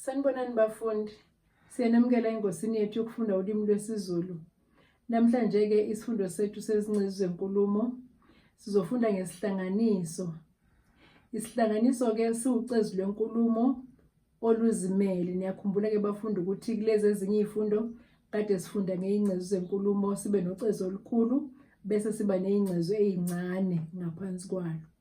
Sanibonani bafundi, siyanamukela engosini yethu yokufunda ulimi lwesiZulu. Namhlanje-ke isifundo sethu sezincezu zenkulumo sizofunda ngesihlanganiso. Isihlanganiso-ke siwucezu lwenkulumo oluzimele. Niyakhumbula-ke bafundi ukuthi kulezi ezinye iy'fundo kade sifunda ngey'ngcezu zenkulumo sibe nocezu olukhulu bese siba ney'ngcezu ey'ncane ngaphansi kwalo.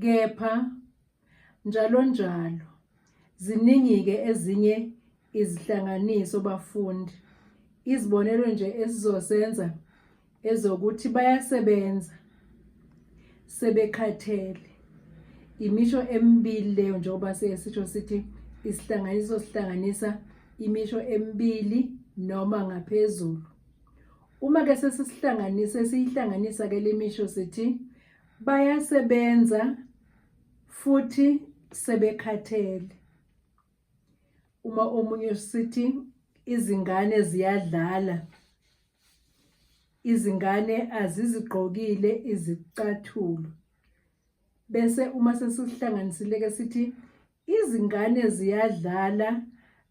Kepha njalonjalo ziningi-ke ezinye izihlanganiso bafundi. Izibonelo nje esizosenza ezokuthi bayasebenza sebekhathele. Imisho emibili leyo njengoba sesisho sithi isihlanganiso sihlanganisa imisho emibili noma ngaphezulu. Uma ke sesisihlanganisa siyihlanganisa ke lemisho sithi Bayasebenza futhi sebekhathele. Uma omunye sithi izingane ziyadlala, izingane azizigqokile izicathulo. Bese uma sesihlanganisile ke sithi izingane ziyadlala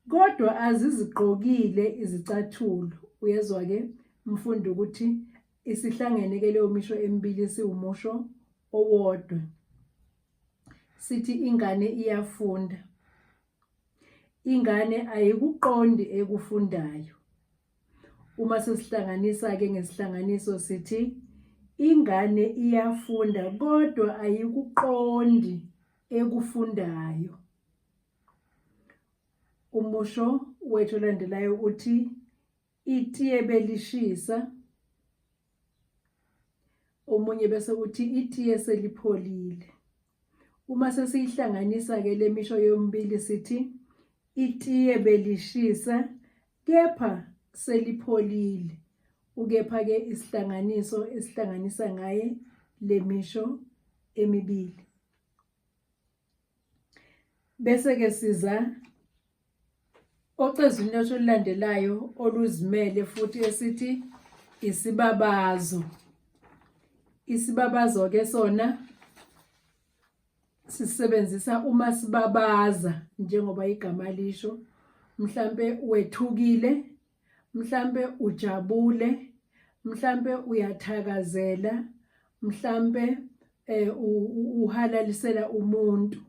kodwa azizigqokile izicathulo. Uyezwa ke mfundo ukuthi Isihlangene ke leyo misho emibili siwumusho owodwa. Sithi ingane iyafunda. Ingane ayikuqondi ekufundayo. Uma sesihlanganisa ke ngesihlanganiso sithi ingane iyafunda kodwa ayikuqondi ekufundayo. Umusho wethu olandelayo uthi itiye belishisa omunye bese kuthi itiye selipholile uma sesiyihlanganisa ke lemisho yombili sithi itiye belishisa kepha selipholile ukepha ke isihlanganiso esihlanganisa ngaye lemisho emibili Bese-ke siza ocezwini lwethu olulandelayo oluzimele futhi esithi isibabazo. Isibabazo-ke sona sisebenzisa uma sibabaza njengoba igama lisho mhlampe wethukile mhlampe ujabule mhlampe uyathakazela mhlampe eh uhalalisela umuntu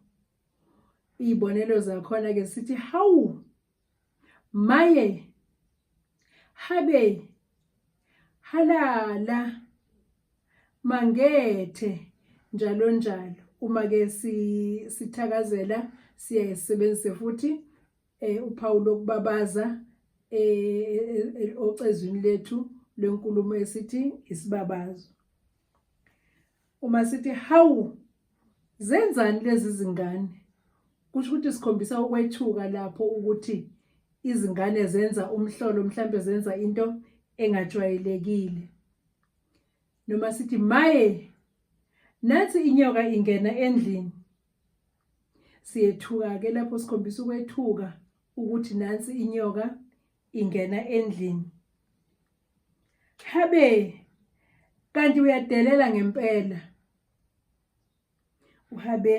izibonelo zakhona ke sithi hawu maye habe halala mangethe njalo njalo uma ke sithakazela siyayisebenzise futhi eh uphawu lokubabaza eh ocezwini lethu lenkulumo esithi isibabazo uma sithi hawu zenzani lezi zingane kusho ukuthi sikhombisa ukwethuka lapho ukuthi izingane zenza umhlolo mhlambe zenza into engajwayelekile noma sithi maye nathi inyoka ingena endlini siyethuka ke lapho sikhombisa ukwethuka ukuthi nansi inyoka ingena endlini habe kanti uyadelela ngempela uhabe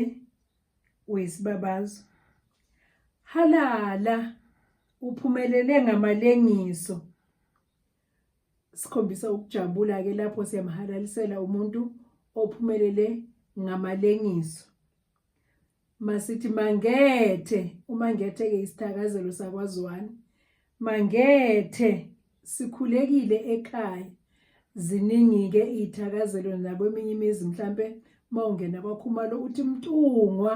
wesibabazo halala uphumelele ngamalengiso sikhombisa ukujabula-ke lapho siyamhalalisela umuntu ophumelele ngamalengiso masithi mangethe umangethe-ke isithakazelo sakwaziwani mangethe sikhulekile ekhaya ziningi-ke iy'thakazelo nakweminye imizi mhlampe uma ungena kwakhumalo uthi mtungwa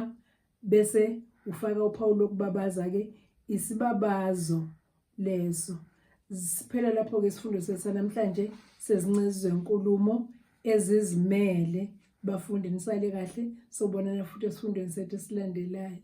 bese ufaka uphawu lokubabaza ke isibabazo leso siphela lapho ke isifundo sethu namhlanje sezincezwe inkulumo ezizimele bafundi nisale kahle sobonana futhi esifundweni sethu esilandelayo